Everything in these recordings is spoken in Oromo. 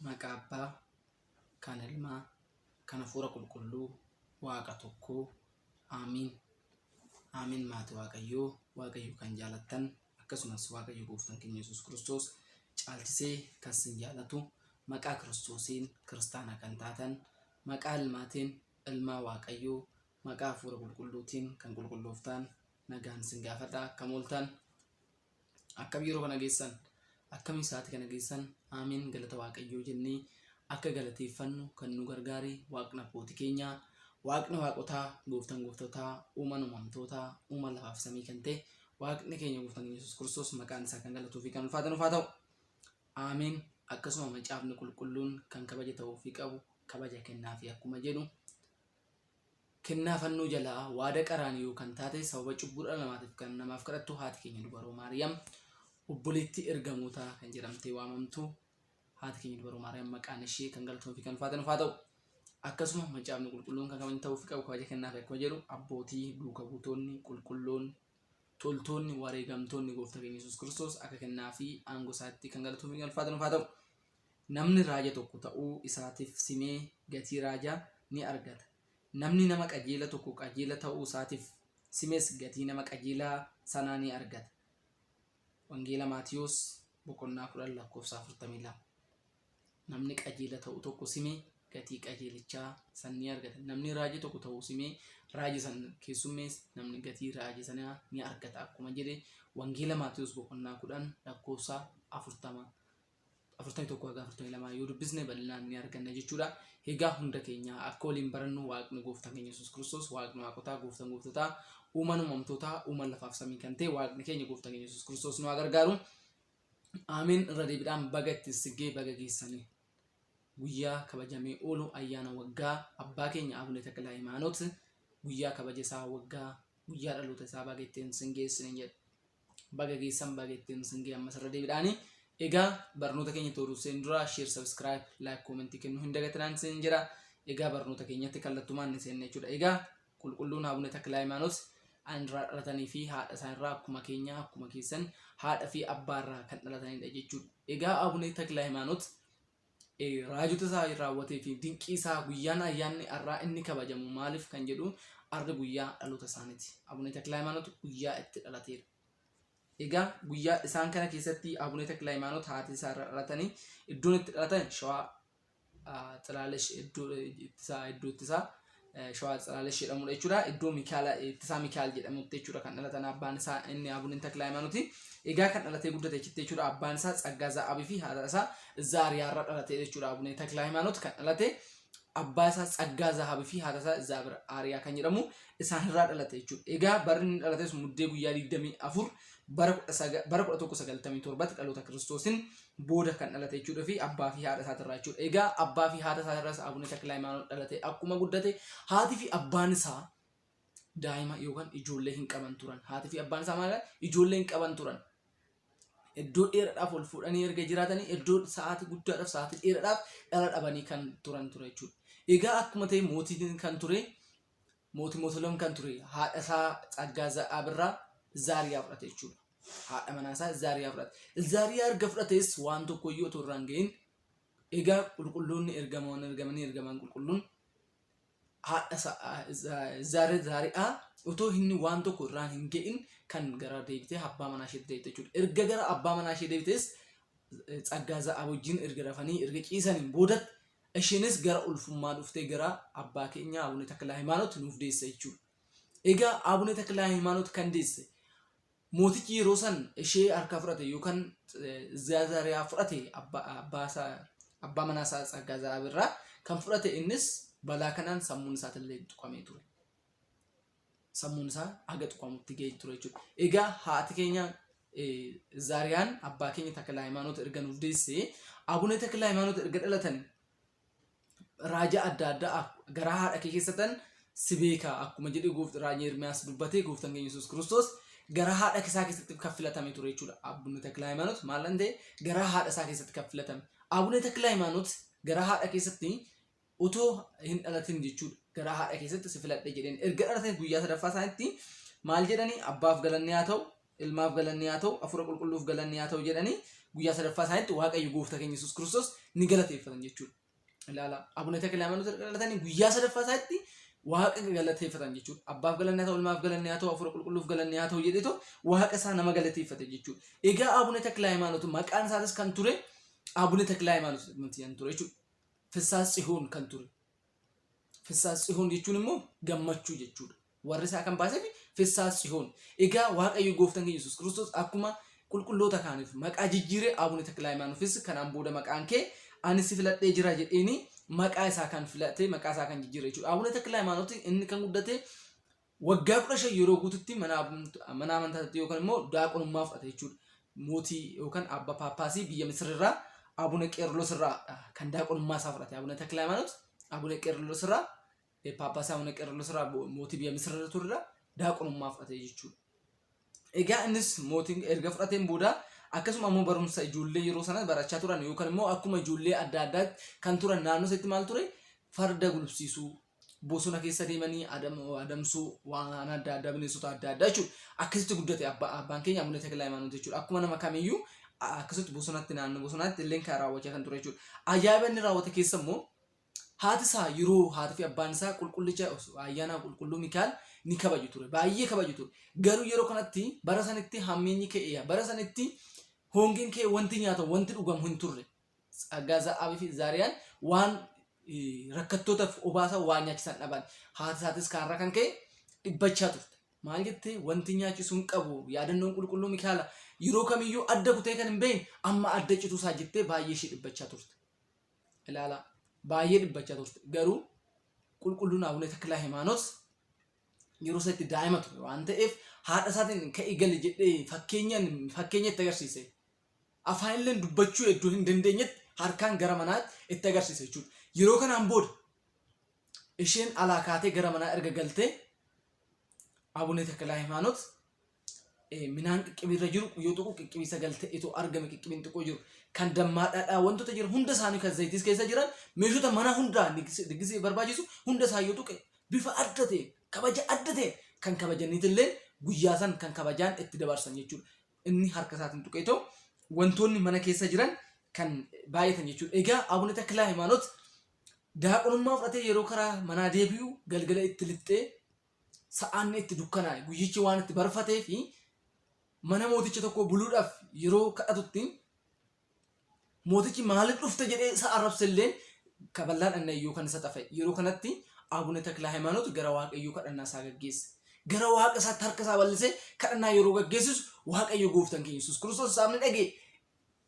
maqaa abbaa kan ilmaa kan hafuura qulqulluu waaqa tokkoo aamiin aamiin maati waaqayyoo waaqayyo kan jaalattan akkasumas waaqayyo gooftan keenya yesus kiristoos caalchisee kan sin jaalatu maqaa kiristoosiin kiristaana kan taatan maqaa ilmaatiin ilmaa waaqayyoo maqaa hafuura qulqulluutiin kan qulqullooftaan nagaan sin gaafadha akka mooltaan akkam yeroo kana geessan akkamiin sa'aatii kana geessan aamiin galata waaqayyoo jennee akka galateeffannu kan nu gargaare waaqni abbootii keenyaa waaqni waaqotaa gooftan gooftotaa uuman uumamtootaa uuma lafaaf samii kan ta'e waaqni keenya gooftan yesus kiristoos maqaan isaa kan galatuu fi kan ulfaatan ulfaa ta'u aamiin akkasuma macaafni qulqulluun kan kabaja ta'uu fi qabu kabaja kennaa fi akkuma jedhu Kennaa fannoo jalaa, waada qaraaniyoo, kan taate sababa cubbuu dhala namaatiif kan namaaf kadhattu haati keenya dubaroo Maariyaam obboleettii ergamootaa kan jedhamtee waamamtu haati keenya dubaroo Maariyaam maqaan ishee kan galatoon fi kan ulfaatan ufaa ta'u. Akkasuma macaafni qulqulluun kan kabajni ta'uu fi qabu kabaja kennaa fi akkuma jedhu abbootii duuka buutoonni qulqulloonni toltoonni wareegamtoonni gooftaa keenya Yesuus Kiristoos akka kennaa fi aangoo isaatti kan galatoon fi kan ulfaatan ufaa ta'u. Namni raaja tokko ta'uu isaatiif simee gatii raajaa ni argata, namni nama qajeela tokko qajeela ta'uu isaatiif simes gatii nama qajeelaa sanaa ni argata. Wangeela Maatiwos boqonnaa 10 lakkoofsa 42. Namni qajeela ta'u tokko sime gatii qajeelichaa san ni argata. Namni raaja tokko ta'uu simee raaja san keessummees namni gatii raaja sanaa ni argata akkuma jedhe Wangeela Maatiwos boqonnaa 10 lakkoofsa 40 41 haga 42 yoo dubbisne bal'inaan ni arganna jechuudha. Egaa hunda keenya akka waliin barannu waaqni gooftaan keenya Yesuus Kiristoos waaqni waaqotaa gooftaan gooftotaa uumaan uumamtootaa uumaan lafaaf samii kan ta'e waaqni keenya gooftaan keenya Yesuus Kiristoos nu haa gargaaru. Aamiin irra deebiidhaan baga ittiin siggee baga geessanii. Guyyaa kabajamee oolu ayyaana waggaa abbaa keenya Abune Takla Hayimaanoot guyyaa kabaja isaa waggaa guyyaa dhaloota isaa baga ittiin sin geessine jedha. Baga geessan baga ittiin isin ga'e ammas irra deebiidhaani. Egaa barnoota keenya tooruu seen dura share subscribe like comment kennuu hin dagatinaan isin jira. Egaa barnoota keenyatti kallattumaan ni seenna jechuudha. Egaa qulqulluun Abuna Takla Hayimaanoot anirraa dhalatanii fi haadha isaanirraa akkuma keenya akkuma keessan haadha fi abbaarraa kan dhalatanidha jechuudha. Egaa Abuna Takla Hayimaanoot raajota isaa raawwatee fi dinqii isaa guyyaan ayyaanni har'aa inni kabajamu maaliif kan jedhu arra guyyaa dhaloota isaaniiti. Abunee Taklaayimaanot guyyaa itti dhalateera. Egaa guyyaa isaan kana keessatti Abunee Taklaayimaanot haati isaa irra dhalatanii iddoon itti dhalatan shawaa xalaalesh iddoo ittisaa iddoo ittisaa Shawaa Tsalaalash jedhamudha jechuudha. Iddoo Mikaala ittisaa Mikaal jedhamutti jechuudha kan dhalatan abbaan isaa inni Abunin Taklaa Himaanuti. Egaa kan dhalatee guddate achitti jechuudha abbaan isaa Tsaggaa Za'aabii fi haadha isaa Zaariyaarra dhalate jechuudha Abunin Taklaa Himaanut kan dhalate abbaa isaa Tsaggaa Za'aabii fi haadha isaa Zaabir Aariyaa kan jedhamu isaanirraa dhalate jechuudha. Egaa barri inni dhalates muddee guyyaa 24 bara 1197tti dhaloota kiristoosiin booda kan dhalate jechuudha fi abbaa fi haadha isaati irraa jechuudha. Egaa abbaa fi haadha isaati irraas Abuna Takla Hayimaanoot dhalate akkuma guddate haati fi abbaan isaa daa'ima yookaan ijoollee hin qaban turan. Haati fi abbaan isaa maal ijoollee hin qaban turan. Iddoo dheeraadhaaf ol fuudhanii erga jiraatanii iddoo sa'aatii guddaadhaaf sa'aatii dheeraadhaaf dhala dhabanii kan turan ture jechuudha. Egaa akkuma ta'e mootiin kan ture Mootii Mootolem kan ture haadha isaa Tsaggaa Za'aab irraa Zaariyaa fudhate jechuudha. Haadha manaa isaa Zaariyaa fudhate. Zaariyaa erga fudhatees waan tokko iyyuu otoo irraan gahin egaa qulqulloonni ergamoon ergamanii ergamaan qulqulluun haadha Zaariyaa otoo inni waan tokko irraan hin ga'in kan gara deebitee abbaa manaa isheetti deebite jechuudha. Erga gara abbaa manaa ishee deebitees Tsaggaa Za'aab wajjin erga rafanii erga ciisaniin boodatti Ishiinis gara ulfummaa dhuftee gara abbaa keenyaa Abune Taklahaymaanot nuuf deesse jechuudha. Egaa Abune Taklahaymaanot kan deesse mootichi yeroo san ishee harkaa fudhate yookaan Zaazariyaa fudhate abbaa manaa isaa Tsaggaaza'aab irraa kan fudhate innis balaa kanaan sammuun isaatillee tuqamee ture. sammuun isaa haga tuqamutti ga'e ture jechuudha. Egaa haati keenya Zaariyaan abbaa keenya Takla Hayimaanoot erga nuuf deesse Abuna Takla Hayimaanoot erga dhalatan raaja adda addaa garaa haadha kee keessatan si beeka akkuma jedhe goofti raaja Ermiyaas dubbatee gooftan keenya Yesuus Kiristoos garaa haadha isaa keessatti kan filatame ture jechuudha. Abuna Takla Hayimaanoot maal ta'e garaa haadha isaa keessatti kan filatame. Abuna Takla Hayimaanoot garaa haadha keessatti Otoo hin dhalatin jechuudha. Garaa haadha keessatti si filadhe jedheen. Erga dhalatanii guyyaa sadaffaa isaanitti maal jedhanii abbaaf galanni haa ta'u, ilmaaf galanni haa ta'u, hafuura qulqulluuf galanni haa ta'u jedhanii guyyaa sadaffaa isaanitti Waaqayyo gooftaa keenya Yesuus Kiristoos ni galateeffatan jechuudha. Ilaala Abuna Takila Hayimaanoot erga dhalatanii guyyaa sadaffaa isaanitti Waaqa galateeffatan jechuudha. Abbaaf galanni haa ta'u, ilmaaf galanni haa ta'u, hafuura qulqulluuf galanni haa ta'u jedheetu Waaqa isaa nama galateeffate jechuudha. Egaa Abuna Takila Hayimaanoot maqaan isaatis kan ture Abuna Takila Hayimaanoot jedhamti kan ture jechuudha. Fissaa Tsihoon kan ture. Fissaa Tsihoon jechuun immoo gammachuu jechuudha. Warri isaa kan baaseef Fissaa Tsihoon. Egaa Waaqayyo gooftan keenya Yesuus Kiristoos akkuma qulqulloota kaaniif maqaa jijjiire Aabune Taklaayimaanufis kanaan booda maqaan kee ani si filadhee jira jedheeni maqaa isaa kan filate maqaa isaa kan jijjiire jechuudha. Aabune Taklaayimaanoti inni kan guddate Waggaa 15 yeroo guututti mana mana amantaa ta'te yookaan immoo daaqonummaa fudhate jechuudha. Mootii yookaan abba paappaasii biyya Misir irraa Abuna Qeerlos irraa kan daaqonummaa isaa fudhate Abuna Takla Hayimaanot Abuna Qeerlos irraa paappaasii Abuna Qeerlos irraa mootii biyya Misir irra ture irraa daaqonummaa fudhate jechuudha. Egaa innis mootiin erga fudhateen booda akkasuma ammoo barumsa ijoollee yeroo sana barachaa turan yookaan immoo akkuma ijoollee adda addaatti kan turan naannoo isaatti maal ture farda gulufsiisuu bosona keessa deemanii adam, adamsuu waan adda addaa bineensota adda addaa jechuudha. Akkasitti guddate abba, abbaan keenya Abuna Takla Hayimaanoot jechuudha. Akkuma nama kamiyyuu a- akkasitti bosonatti naannoo bosonaatti illee kan raawwachaa kan ture jechuudha. Ajaa'iba inni raawwate keessa immoo haati isaa yeroo haati fi abbaan isaa qulqullicha ayyaana qulqulluu Mikaa'el ni kabaju ture. Baay'ee kabaju ture. Garuu yeroo kanatti bara sanitti hammeenyi ka'eera. Bara sanitti hongeen ka'e wanti nyaatamu wanti dhugamu hin turre. Tsaggaa Za'aabii fi Zaariyaan waan rakkattootaf obaasan waan nyaachisan dhaban. Haati isaatis kaarraa kan ka'e dhibbachaa turte. Maal jette? Wanti nyaachisu hin qabu. Yaadannoon qulqulluu Mikaala yeroo kamiyyuu adda kutee kan hin beekne amma adda cituu isaa jettee baay'ee ishee dhibbachaa turte. Ilaalaa baay'ee dhibbachaa turte. Garuu qulqulluun Abune Taklaa Himaanoot yeroo isa itti daa'ima ture waan ta'eef haadha isaatiin ka'i gali jedhee fakkeenyaan fakkeenya itti agarsiise. afaanilleen dubbachuu eddo hin dandeenyetti harkaan gara manaa itti agarsiise jechuudha. Yeroo kanaan booda isheen alaa kaatee gara manaa erga galtee Abunee Takalaa Himaanot minaan qiccibiirra jiru yoo tuqu qiccibii sagal ta'etu argame qiccibiin xiqqoo jiru kan dammaa dhadhaa wantoota jiran hunda isaanii kan zayitis keessa jiran meeshota mana hundaa diggisiif barbaachisu hunda isaa yoo tuqe bifa adda ta'e kabaja adda ta'e kan kabajaniitillee guyyaa san kan kabajaan itti dabarsan jechuudha. inni harka isaatiin tuqeetoo wantoonni mana keessa jiran kan baay'atan jechuudha. Egaa Abuna Taklaa Hayimaanot daaqonummaa fudhatee yeroo karaa manaa deebi'u galgala itti lixxee sa'aanni itti dukkanaa'e guyyichi waan itti barfatee fi mana mooticha tokko buluudhaaf yeroo kadhatutti Mootichi maaliif dhufte jedhee isa arrabse illeen kaballaan annayyuu kan isa xafa'e. Yeroo kanatti Abune Taklahaymaanot gara Waaqayyoo kadhannaa isaa gaggeesse. Gara Waaqa isaatti harka isaa bal'isee kadhannaa yeroo gaggeessisu Waaqayyo gooftan keenya Yesuus Kiristoos isaaf ni dhaga'e.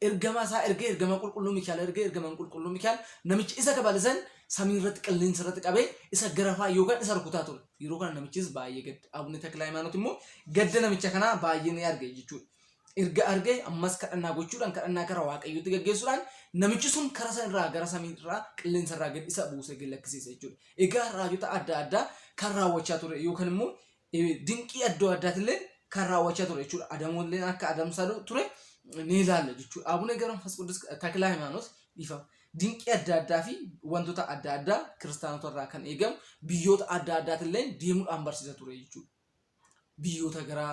Ergamaa isaa ergee ergamaa qulqulluu Mikaa'el ergee ergamaan qulqulluu Mikaa'el namicha isa kabalisan samii irratti qilleensa irratti qabee isa garafaa yookaan isa rukutaa ture. Yeroo kana namichis baay'ee gadde. Abune Taklahaymaanot immoo gadda namicha kanaa baay'ee ni arge jechuudha. erga argee ammas kadhannaa gochuudhaan kadhannaa karaa waaqayyootti gaggeessuudhaan namichi sun karaa sana irraa gara samii irraa qilleensa irraa gad isa buusee gad lakkisiisa jechuudha. Egaa raajota adda addaa kan raawwachaa ture yookaan immoo eh, dinqii adda addaatillee kan raawwachaa ture jechuudha. Adamoolleen akka adamsaa ture ni ilaalla jechuudha. Abuna Gabra Manfas Qudus Takilaa Himaanos dhiifama. Dinqii adda addaa fi wantoota adda addaa kiristaanota irraa kan eegamu biyyoota adda addaatillee deemuudhaan barsiisa ture jechuudha. biyyoota gara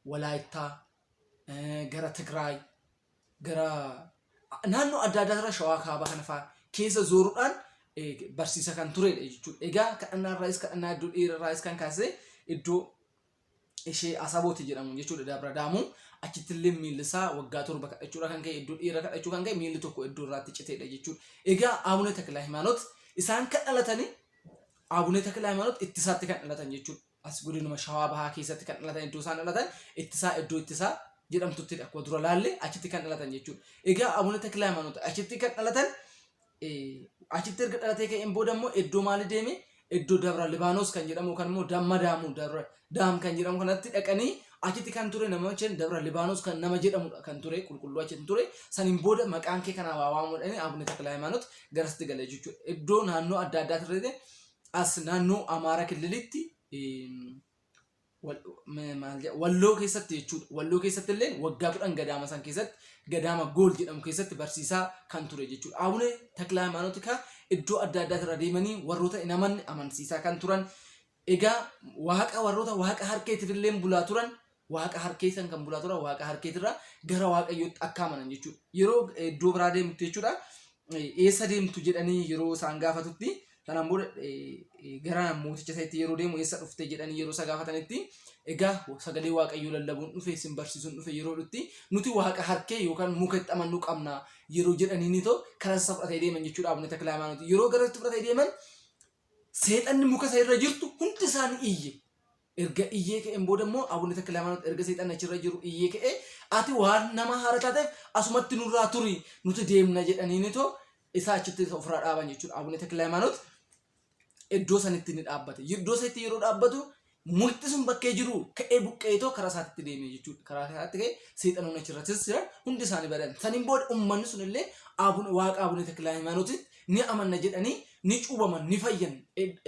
Walaayittaa, gara Tigraay, gara naannoo adda addaa irra shawaa kaabaa kana fa'aa keessa zooruudhaan barsiisa kan turedha jechuudha. Egaa kadhannaa irraayis kadhannaa iddoo dheeraa irraayis kan kaasee iddoo ishee Asabooti jedhamu jechuudha Dabra Daamuu achitti illee miilli isaa waggaa torba kadhachuudha kan ka'e iddoo dheeraa kadhachuu kan ka'e miilli tokko iddoo irraatti citeedha jechuudha. Egaa Abuna Takla Himaanot isaan kan dhalatanii Abune Takla Hayimaanot ittisaatti kan dhalatan jechuudha. As godinuma Shawaa Bahaa keessatti kan dhalatan iddoo isaan dhalatan ittisaa iddoo ittisaa jedhamtutti akkuma dura laalle achitti kan dhalatan jechuudha. Egaa Abune Takla Hayimaanot achitti kan dhalatan achitti erga dhalatee ka'een booda immoo iddoo maali deeme iddoo Dabra Libaanos kan jedhamu kan immoo Damma Daamuu Dabra Daam kan jedhamu kanatti dhaqanii achitti kan ture namicha dabra Libaanos kan nama jedhamudha kan ture qulqulluu achitti ture saniin booda maqaan kee kanaa waa waamudhani Abune Takla Hayimaanot garasitti galee jechuudha. Iddoo naannoo adda addaa turrete as naannoo Amaara Killilitti walloo keessatti jechuudha. Walloo keessatti illee waggaa kudhan gadaama san keessatti gadaama gool jedhamu keessatti barsiisaa kan ture jechuudha. Abune Takla Hayimaanot iddoo adda addaa irra deemanii warroota hin amanne amansiisaa kan turan Egaa waaqa warroota waaqa harkeetiif illeen bulaa turan waaqa harkee san kan bulaa turan waaqa harkeetirraa gara waaqayyootti akka amanan jechuudha. Yeroo eh, iddoo biraa deemtu jechuudha eh, eessa deemtu jedhanii yeroo isaan gaafatutti sanaan booda eh, eh, gara mooticha isaatti yeroo deemu eessa dhufte jedhanii yeroo isa gaafatanitti egaa sagalee waaqayyoo lallabuun dhufe isin barsiisuun dhufe yeroo dhutti nuti waaqa harkee yookaan muka itti amannuu qabna yeroo jedhanii ni ta'u karaa isa fudhatee deeman jechuudha abuna takla hayimaanooti yeroo gara itti fudhatee deeman Seexanni muka isa irra jirtu hundi isaa ni iyye. Erga iyyee ka'een booda immoo Abuna Takla Hayimaanot erga seexanni achirra jiru iyyee ka'ee ati waan nama haara taateef asumatti nurraa turi nuti deemna jedhaniini too isaa achitti isa ofirraa dhaaban jechuudha. Abuna Takla Hayimaanot iddoo sanitti ni dhaabbate. Iddoo sanitti yeroo dhaabbatu Mukti sun bakkee jiru ka'ee buqqeetoo karaa isaatti deeme jechuudha. Karaa isaatti ka'ee seexanoonni achirrattis jiran hundi isaanii badan. Saniin booda uummanni sun illee waaqa Abune Takla Hayimaanootitti ni amanna jedhanii ni cuubaman ni fayyan.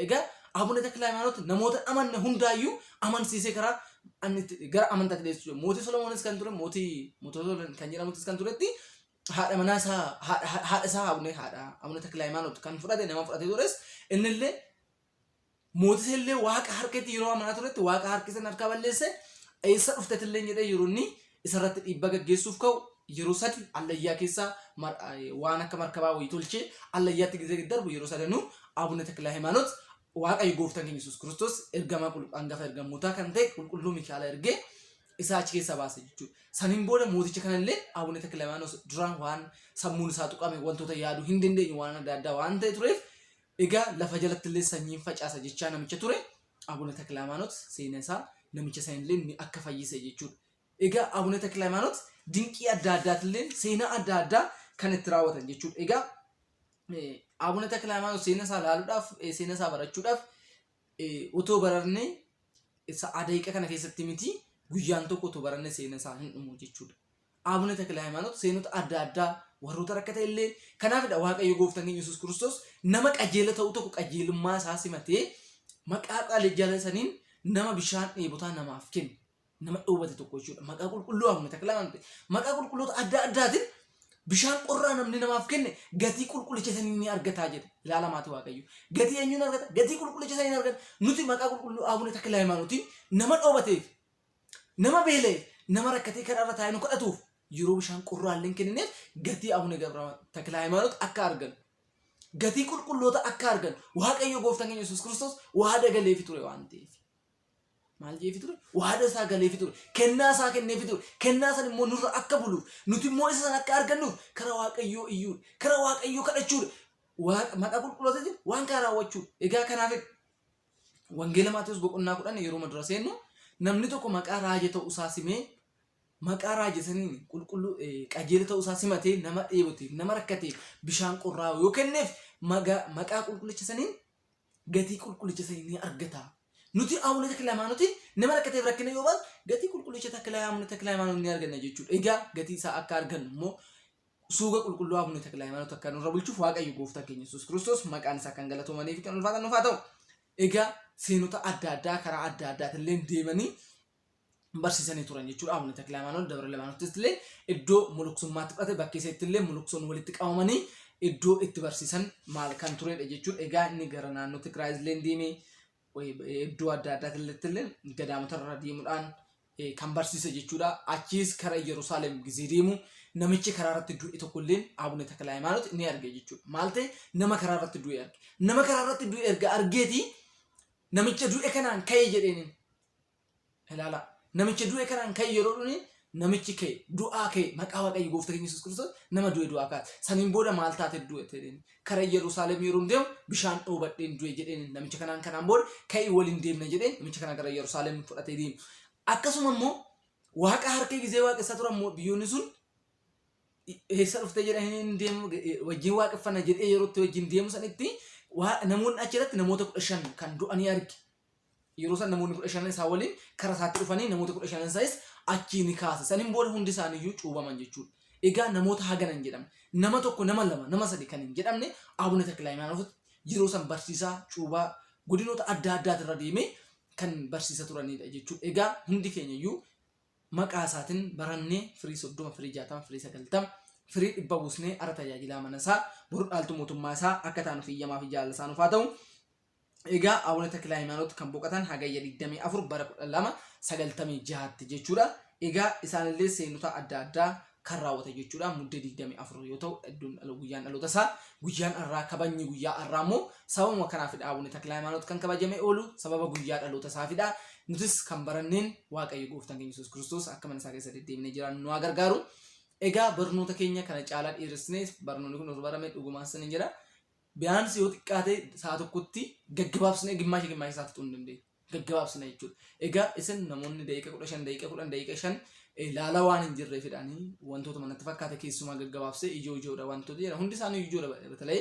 Egaa Abune Takla Hayimaanoot namoota amanne hundaayyuu amansiisee karaa gara amantaatti deessuu jira. Mootii Solomoonis kan ture mootii mootota kan jedhamutis kan turetti haadha manaa isaa haadha isaa Abune haadha Abune Takla Hayimaanoot kan fudhate nama fudhatee tures innillee Mooticha illee Waaqa harketti yeroo amanaa turetti Waaqa harki san harkaa balleesse eessa dhuftet illee jedhee yeroo inni isa irratti dhiibbaa gaggeessuuf ka'u yeroo sadi allayyaa keessa waan akka markabaa wayii tolchee allayyaatti gizee gad darbu yeroo sadanuu Abuna Takla Haymaanot Waaqayyo gooftaan keenya Yesuus Kiristoos ergamaa angafa ergamootaa kan ta'e qulqulluu Mikaala ergee isaa achi keessaa baase jechuudha. Saniin booda mooticha kana illee Abuna Takla Haymaanot duraan waan sammuun isaa tuqame wantoota yaaduu hin dandeenye waan adda addaa waan ta'e tureef Egaa lafa jalattillee sanyiin facaasa jechaa namicha ture Abuna Taklahaymaanot seena isaa namicha sanillee ni akka fayyise jechuudha. Egaa Abuna Taklahaymaanot dinqii adda addaatillee seenaa adda addaa kan itti raawwatan jechuudha. Egaa Abuna Taklahaymaanot seena isaa ilaaluudhaaf seena isaa barachuudhaaf Otoo bararnee sa'aa daqiiqa kana keessatti miti guyyaan tokko otoo baranne seena isaa hin dhumu jechuudha. Aabune Takila Hayimaanot seenota adda addaa warroota rakkata illee kanaafidha Waaqayyo gooftaan keenya Yesuus Kiristoos nama qajeela ta'uu tokko qajeelummaa isaa simatee maqaa qalee jala saniin nama bishaan dheebotaa namaaf kenne. nama dhoobate tokko jechuudha. Maqaa qulqulluu Abuna Taklaa waan ta'e maqaa qulqulloota adda addaatiin bishaan qorraa namni namaaf kenne gatii qulqullicha sanii ni argataa jedhe. Ilaala maatii Waaqayyo. Gatii eenyuun argata? Gatii qulqullicha sanii ni argata. Nuti maqaa qulqulluu Abuna Taklaa Hayimaanootiin nama dhoobateef, nama beela'eef, nama rakkatee karaa irra taa'ee nu kadhatuuf yeroo bishaan qorraa illee hin kennineef gatii Abuna Gabra Taklaa Hayimaanoot akka arganu. Gatii qulqulloota akka arganu. Waaqayyo gooftaan keenya Yesuus Kiristoos waa dagaleefi ture waan ta'eef. maal jeefi ture waada isaa galeefi ture kennaa isaa kenneefi ture kennaa san immoo nurra akka buluuf nuti immoo isa san akka argannuuf kara waaqayyoo iyyuudha kara waaqayyoo kadhachuudha Waaqa- maqaa qulqulloota jechuun waan kana raawwachuu egaa kanaaf wangeela maatiyoos boqonnaa kudhan yeroo dura seennu namni tokko maqaa raaja ta'uu isaa simee maqaa raaja saniin qulqulluu eh, qajeela ta'uu isaa simatee nama dheeboteef nama rakkateef bishaan qorraa yoo kenneef maga- maqaa qulqullicha saniin gatii qulqullicha sanii ni argata. Nuti Abuna Takla Hayimaanootiin nama rakkateef rakkina yoo baanu gatii qulqullicha Takla Abuna Takla Hayimaanoot ni arganna jechuudha. Egaa gatii isaa akka argannu immoo suuga qulqulluu Abuna Takla Hayimaanoot akka nurra bulchuuf Waaqayyo gooftaan keenya Yesuus Kiristoos maqaan isaa kan galatoomanii fi kan ulfaatan nuuf haa ta'u. Egaa seenota adda addaa karaa adda addaatiin illee deemanii barsiisanii turan jechuudha. Abuna Taklaayimaanoot Dabra Libaanottis illee iddoo muluksummaatti fudhate bakkee isaatti illee muluksoon walitti qabamanii iddoo itti barsiisan maal kan turedha jechuudha. Egaa inni gara naannoo Tigraay illee deemee iddoo adda addaatti illee gadaamota irra deemuudhaan kan barsiise jechuudha. Achiis kara Yerusaalem gizee deemu namichi karaa irratti du'e tokko illee Abuna Taklaayimaanoot ni arge jechuudha. Maal ta'e nama karaa irratti du'e arge. Nama karaa irratti du'e erga argeeti namicha du'e kanaan ka'e jedheen Ilaala. Namicha du'e kanaan kan yeroo dhuni namichi kee du'aa kee maqaa waaqayyo goofta keenya Yesuus Kiristoos nama du'e du'aa kaase. Saniin booda maal taate du'e jedheen. Kara Yerusaalem yeroo deemu bishaan dhoobadheen du'e jedheen namicha kanaan kanaan booda ka'ii waliin deemna jedheen namicha kana gara Yerusaalem fudhatee deemu. Akkasuma immoo waaqa harkee gizee waaqessaa turan immoo biyyoonni sun eessa dhuftee jedhanii deemu wajjin waaqeffanna jedhee yerootti wajjin deemu sanitti namoonni achirratti namoota kudha shan kan du'anii arge. Yeroo san namoonni kudha shanan isaa waliin kara isaatti dhufanii namoota kudha shanan isaas achii ni kaase. Saniin booda hundi isaanii iyyuu cuubaman jechuudha. Egaa namoota hagana hin jedhamne. Nama tokko, nama lama, nama sadi kan hin jedhamne Abuna Taklaayimaanoot yeroo san barsiisaa cuubaa godinoota adda addaatirra deemee kan barsiisa turanidha jechuudha. Egaa hundi keenya iyyuu maqaa isaatiin barannee firii soddoma, firii jaatama, firii sagaltama, firii dhibba buusnee ara tajaajilaa mana isaa boru dhaaltu mootummaa isaa akka taanuuf iyyamaa fi jaalala isaa nuuf haa ta'u. Egaa Abuna Takilaaymaanoot kan boqatan Hagayya 24 bara 1296tti jechuudha. Egaa isaanillee seenota adda addaa kan raawwatan jechuudha. Muddee 24 yoo ta'u iddoon dhala guyyaan dhaloota isaa guyyaan har'aa kabajni guyyaa har'aa immoo sababuma kanaafidha Abuna Takilaaymaanoot kan kabajamee oolu sababa guyyaa dhaloota isaafidha. Nutis kan baranneen Waaqayyo gooftaan keenya Yesuus Kiristoos akka mana isaa keessa deddeebinee jiraannu nu haa gargaaru. Egaa barnoota keenya kana caalaa dheeressine barnoonni kun osoo barame dhugumaan sin jedha. Biyaansii yoo xiqqaate sa'a tokkotti gaggabaabsinee gimmaasha gimmaasha isaa fixuu hin dandeenyu. Gaggabaabsina jechuudha. Egaa isin namoonni daqiiqa kudha shan daqiiqa kudhan daqiiqa shan laala waan hin jirree fidhaanii wantoota manatti fakkaata keessumaa gaggabaabsee ijoo ijoodha wantoota jedhan hundi isaanii ijoodha batalee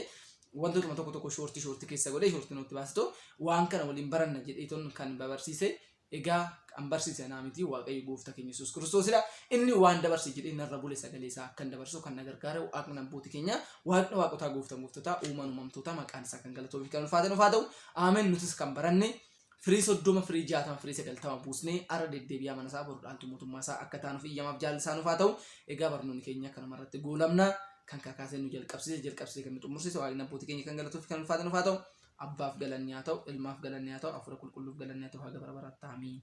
wantootuma tokko tokko shoortii shoortii keessa godhee shoortii nutti baasitu waan kana waliin baranna jedheeton kan babarsiise Egaa kan barsiise anaa miti Waaqayyo gooftaa keenya Yesuus Kiristoosidha. Inni waan dabarse jedhee narra bule sagalee isaa akkan dabarsu kan na gargaare waaqni abbooti keenya waaqni waaqotaa gooftan gooftotaa uumaan uumamtootaa maqaan isaa kan galatoofi kan ulfaate nufaa ta'u. Amen nutis kan baranne firii soddoma firii jaatama firii sagaltama buusnee arra deddeebi'aa mana isaa bordhaantu mootummaa isaa akka taanuuf iyyamaaf jaalli isaa nufaa ta'u. Egaa barnoonni keenya kanuma irratti goolabna kan kakaasee nu jalqabsiise jalqabsiise kan nu xumursiise waaqni abbooti keenya kan galatoofi kan ulfaate nufaa ta'u. Abbaaf galanni haa ta'u, Ilmaaf galanni haa ta'u, Hafuura Qulqulluuf galanni haa ta'u haga bara baraatti. Aamiin.